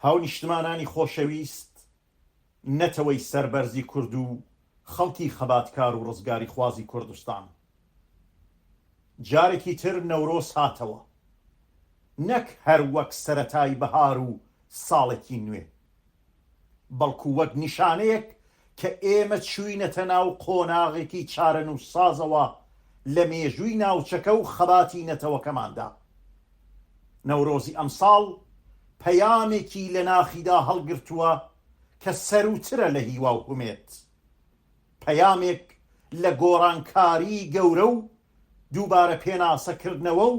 هاونیشتمانانی خۆشەویست، نەتەوەی سەربەرزی کورد و خەڵکی خەباتکار و ڕزگاریخوازی کوردستان، جارێکی تر نەورۆز هاتەوە، نەک هەر وەک سەرەتای بەهار و ساڵێکی نوێ، بەڵکو وەک نیشانەیەک کە ئێمە چووینەتە ناو قۆناغێکی چارەنووسسازەوە لە مێژووی ناوچەکە و خەباتی نەتەوەکەماندا. نەورۆزی ئەمساڵ پەیامێکی لە ناخیدا هەڵگرتووە کە سەرووترە لە هیوا و هومێد. پەیامێک لە گۆڕانکاریی گەورە و دووبارە پێناسەکردنەوە و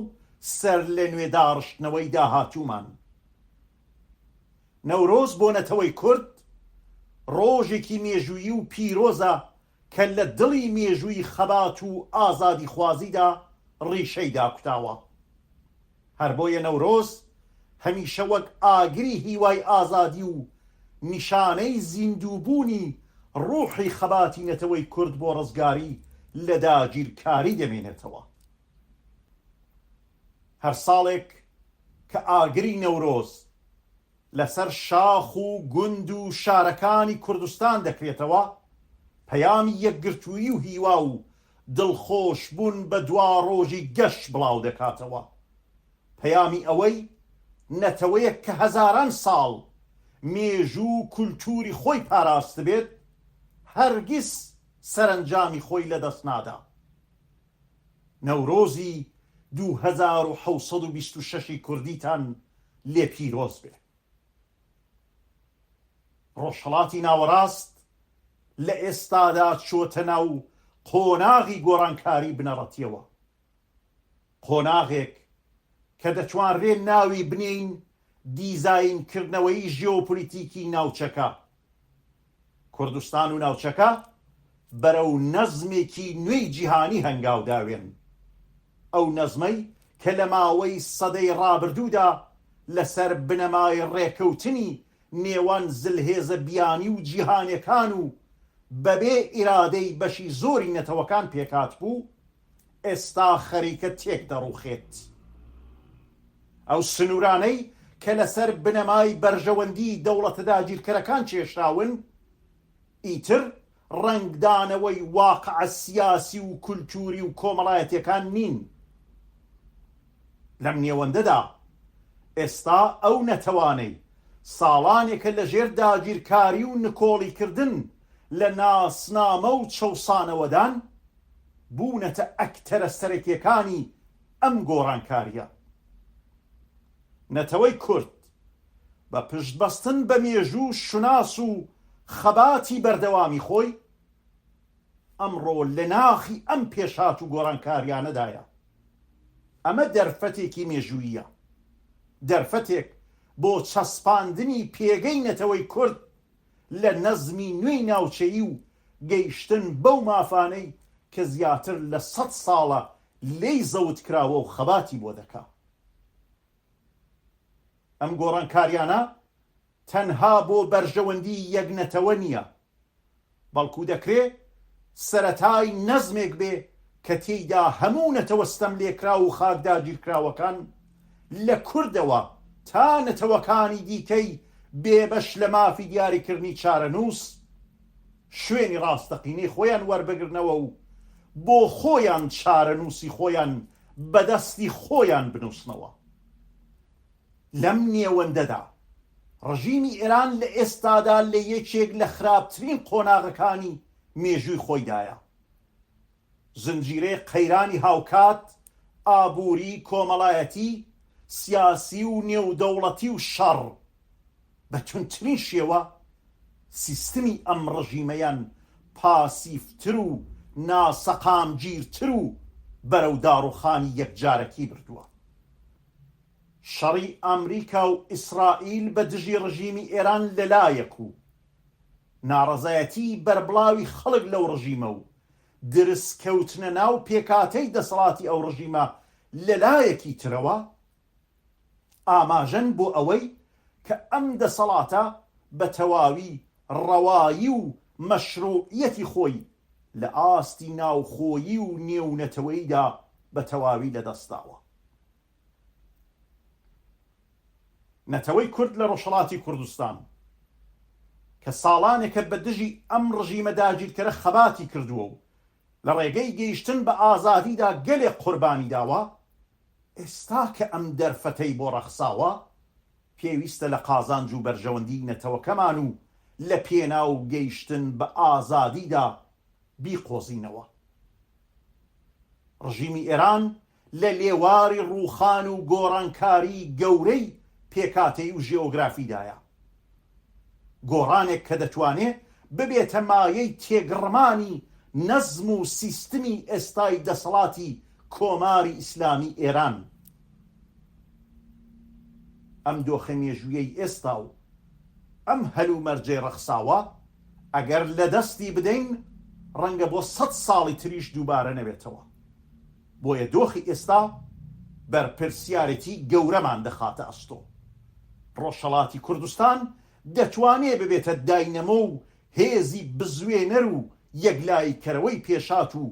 سەرلەنوێ داڕشتنەوەی داهاتوومان. نەورۆز بۆ نەتەوەی کورد ڕۆژێکی مێژوویی و پیرۆزە کە لە دڵی مێژووی خەبات و ئازادیخوازیدا ڕیشەی داکوتاوە. هەر بۆیە نەورۆز هەمیشە وەک ئاگری هیوای ئازادی و نیشانەی زیندووبوونی ڕوحی خەباتی نەتەوەی کورد بۆ ڕزگاری لە داگیرکاری دەمێنێتەوە. هەر ساڵێک کە ئاگری نەورۆز لەسەر شاخ و گوند و شارەکانی کوردستان دەکرێتەوە، پەیامی یەکگرتوویی و هیوا و دڵخۆشبوون بە دواڕۆژی گەش بڵاودەکاتەوە، پەیامی ئەوەی نەتەوەیەک کە هەزاران ساڵ مێژوو و کولتووری خۆی پاراستبێت، هەرگیز سەرەنجامی خۆی لەدەست نادا. نەورۆزی دوو هەزار و حەوت سەد و بیست و شەش ی کوردیتان لێ پیرۆز بێ. ڕۆژهەڵاتی ناوەڕاست لە ئێستادا چۆتە ناو قۆناغی گۆڕانکاری بنەڕەتیەوە. قۆناغێک کە دەتوانرێ ناوی بنێین دیزاینکردنەوەی ژێۆپۆلیتیکی ناوچەکە، کوردستان و ناوچەکە بەرەو نەزمێکی نوێی جیهانی هەنگاو داوێن، ئەو نەزمەی کە لە ماوەی سەدەی ڕابردوودا لەسەر بنەمای ڕێکەوتنی نێوان زلهێزە بیانی و جیهانێکان و بەبێ ئیرادەی بەشی زۆری نەتەوەکان پێکهاتبوو، ئێستا خەریکە تێک دەڕوخێت. ئەو سنورانەی کە لەسەر بنەمای بەرژەوەندی دەوڵەتە داگیرکەرەکان کێشراون، ئیتر ڕەنگدانەوەی واقع سیاسی و کولتوری و کۆمەڵایەتیەکان نین. لەم نێوەندەدا ئێستا ئەو نەتەوانەی ساڵانێکە لە ژێر داگیرکاری و نکۆڵیکردن لە ناسنامە و چەوسانەوەدان، بوونەتە ئەکتەرە سەرەکیەکانی ئەم گۆڕانکاریە. نەتەوەی کورد بە پشت بەستن بە مێژوو شوناس و خەباتی بەردەوامی خۆی، ئەمڕۆ لە ناخی ئەم پێشهات و گۆڕانکاریانەدایە. ئەمە دەرفەتێکی مێژووییە. دەرفەتێک بۆ چەسپاندنی پێگەی نەتەوەی کورد لە نەزمی نوێی ناوچەیی و گەیشتن بەو مافانەی کە زیاتر لە سەد ساڵە لێی زەوتکراوە و خەباتی بۆ دەکا. ئەم گۆڕانکاریانە تەنها بۆ بەرژەوەندی یەک نەتەوە نیە، بەڵکو دەکرێ سەرەتای نەزمێک بێ کە تێیدا هەموو نەتەوە ستەملێکراو و خاکداگیرکراوەکان لە کوردەوە تا نەتەوەکانی دیکەی بێبەش لە مافی دیاریکردنی چارەنووس، شوێنی ڕاستەقینەی خۆیان وەربگرنەوە و بۆ خۆیان چارەنووسی خۆیان بە دەستی خۆیان بنووسنەوە. لەم نێوەندەدا، ڕژیمی ئێران لە ئێستادا لە یەکێک لە خراپترین قۆناغەکانی مێژووی خۆیدایە. زنجیرەی قەیرانی هاوکات، ئابووری، کۆمەڵایەتی، سیاسی و نێودەوڵەتی و شەڕ، بە توندترین شێوە سیستمی ئەم ڕژیمەیان پاسیڤتر و ناسەقامگیرتر و بەرەو داڕوخانی یەکجارەکی بردووە. شەڕی ئامریکا و ئیسرائیل بە دژی ڕژیمی ئێران لە لایەک و، ناڕەزایەتیی بەربڵاوی خەڵک لەو ڕژیمە و درز کەوتنە ناو پێکهاتەی دەسەڵاتی ئەو ڕژیمە لە لایەکی ترەوە ئاماژەن بۆ ئەوەی کە ئەم دەسەڵاتە بە تەواوی ڕەوایی و مەشرووعییەتی خۆی لە ئاستی ناوخۆیی و نێونەتەوەییدا بە تەواوی لە دەست داوە. نەتەوەی کورد لە ڕۆژهەڵاتی کوردستان کە ساڵانێکە بە دژی ئەم ڕژیمە داگیرکەرە خەباتی کردووە و لە ڕێگەی گەیشتن بە ئازادیدا گەلێک قوربانی داوە، ئێستا کە ئەم دەرفەتەی بۆ ڕەخساوە، پێویستە لە قازانج و بەرژەوەندیی نەتەوەکەمان و لە پێناو گەیشتن بە ئازادیدا بیقۆزینەوە. ڕژیمی ئێران لە لێواری ڕووخان و گۆڕانکاری گەورەی پێکهاتەیی و ژێۆگرافیدایە. گۆڕانێک کە دەتوانێ ببێتە مایەی تێگڕمانی نەزم و سیستمی ئێستای دەسەڵاتی کۆماری ئیسلامی ئێران. ئەم دۆخە مێژوویەی ئێستا و ئەم هەلومەرجەی ڕەخساوە ئەگەر لە دەستی بدەین ڕەنگە بۆ سەد ساڵی تریش دووبارە نەبێتەوە. بۆیە دۆخی ئێستا بەرپرسیارێتی گەورەمان دەخاتە ئەستۆ. ڕۆژهەڵاتی کوردستان دەتوانێ ببێتە داینەمۆ و هێزی بزوێنەر و یەکلاییکەرەوەی پێشهات و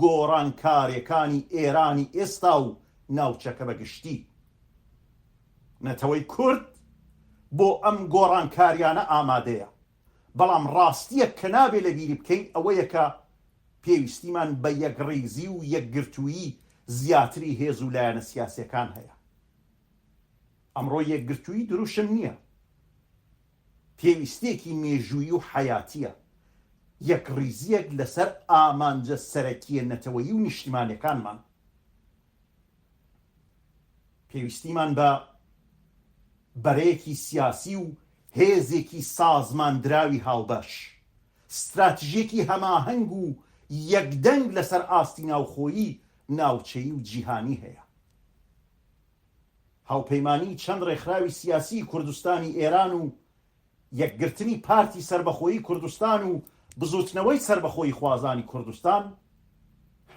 گۆڕانکارێکانی ئێرانی ئێستا و ناوچەکە بە گشتی. نەتەوەی کورد بۆ ئەم گۆڕانکاریانە ئامادەیە. بەڵام ڕاستییەک کە نابێ لەبیری بکەین ئەوەیە کە پێویستیمان بە یەکڕیزی و یەکگرتوویی زیاتری هێز و لایەنە سیاسییەکان هەیە. ئەمڕۆ یەکگرتوویی دروشم نییە، پێویستییەکی مێژوویی و حەیاتییە، یەکڕیزییەک لەسەر ئامانجە سەرەکییە نەتەوەیی و نیشتیمانییەکانمان، پێویستیمان بە بەرەیەکی سیاسی و هێزێکی سازماندراوی هاوبەش، ستراتژیەکی هەماهەنگ و یەکدەنگ لەسەر ئاستی ناوخۆیی، ناوچەیی و جیهانی هەیە. هاوپەیمانیی چەند ڕێکخراوی سیاسیی کوردستانی ئێران و یەکگرتنی پارتی سەربەخۆیی کوردستان و بزووتنەوەی سەربەخۆییخوازانی کوردستان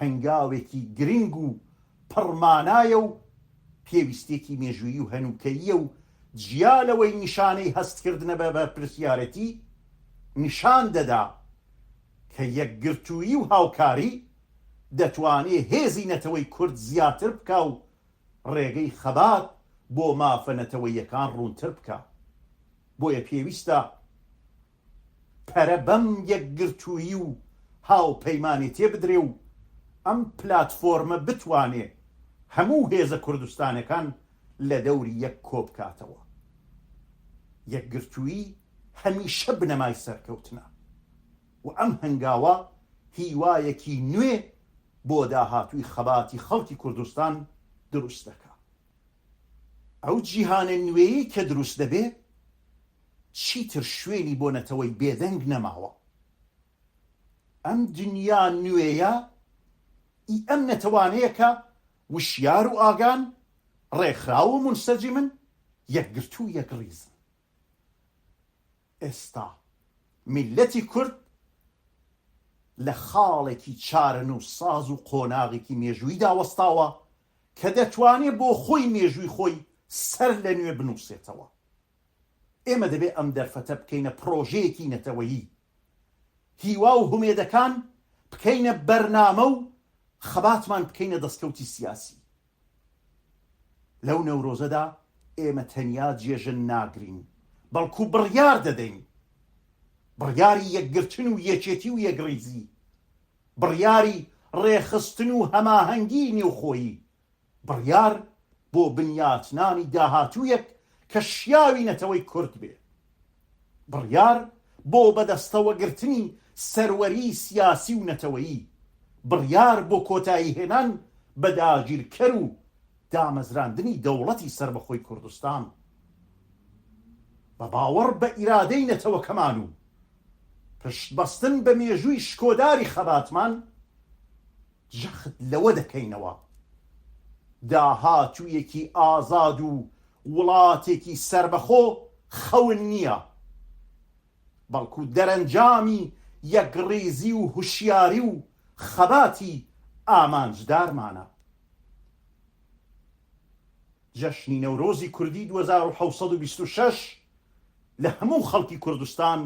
هەنگاوێکی گرنگ و پڕ مانایە و پێویستییەکی مێژوویی و هەنووکەییە و جیا لەوەی نیشانەی هەستکردنە بە بەرپرسیارێتی، نیشان دەدا کە یەکگرتوویی و هاوکاری دەتوانێ هێزی نەتەوەی کورد زیاتر بکا و ڕێگەی خەبات بۆ مافە نەتەوەییەکان ڕوونتر بکا. بۆیە پێویستە پەرە بەم یەکگرتوویی و هاوپەیمانێتیە بدرێ و ئەم پلاتفۆرمە بتوانێ هەموو هێزە کوردستانەکان لە دەوری یەک کۆبکاتەوە. یەکگرتوویی هەمیشە بنەمای سەرکەوتنە و ئەم هەنگاوە هیوایەکی نوێ بۆ داهاتووی خەباتی خەڵکی کوردستان دروست دەکا. ئەو جیهانە نوێیەی کە دروست دەبێ چیتر شوێنی بۆ نەتەوەی بێدەنگ نەماوە. ئەم دنیا نوێیە ئی ئەم نەتەوانەیە کە وشیار و ئاگان، ڕێکخراو و مونسەجیمن، یەکگرتوو و یەکڕیزن. ئێستا میللەتی کورد لە خاڵێکی چارەنووسساز و قۆناغێکی مێژووییدا وەستاوە کە دەتوانێ بۆ خۆی مێژووی خۆی سەر لە نوێ بنووسێتەوە. ئێمە دەبێ ئەم دەرفەتە بکەینە پڕۆژەیەکی نەتەوەیی، هیوا و هومێدەکان بکەینە بەرنامە و خەباتمان بکەینە دەستکەوتی سیاسی. لەو نەورۆزەدا ئێمە تەنیا جێژن ناگرین، بەڵکو بڕیار دەدەین. بڕیاری یەکگرتن و یەکێتی و یەکڕیزی، بڕیاری ڕێکخستن و هەماهەنگیی نێوخۆیی، بڕیار بۆ بنیاتنانی داهاتوویەک کە شیاوی نەتەوەی کورد بێ. بڕیار بۆ بەدەستەوە گرتنی سەروەری سیاسی و نەتەوەیی، بڕیار بۆ کۆتایی هێنان بە داگیرکەر و دامەزراندنی دەوڵەتی سەربەخۆی کوردستان بە باوەڕ بە ئیرادەی نەتەوەکەمان و پشت بەستن بە مێژووی شکۆداری خەباتمان جەخت لەوە دەکەینەوە داهاتوویەکی ئازاد و وڵاتێکی سەربەخۆ خەون نییە، بەڵکو دەرەنجامی یەکڕیزی و هوشیاری و خەباتی ئامانجدارمانە. جەژنی نەورۆزی کوردی دوو هەزار و حەوت سەد و بیست و شەش لە هەموو خەڵکی کوردستان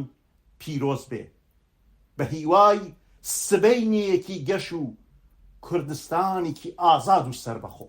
پیرۆز بێ. بە هیوای سبەینێیەکی گەش و کوردستانێکی ئازاد و سەربەخۆ.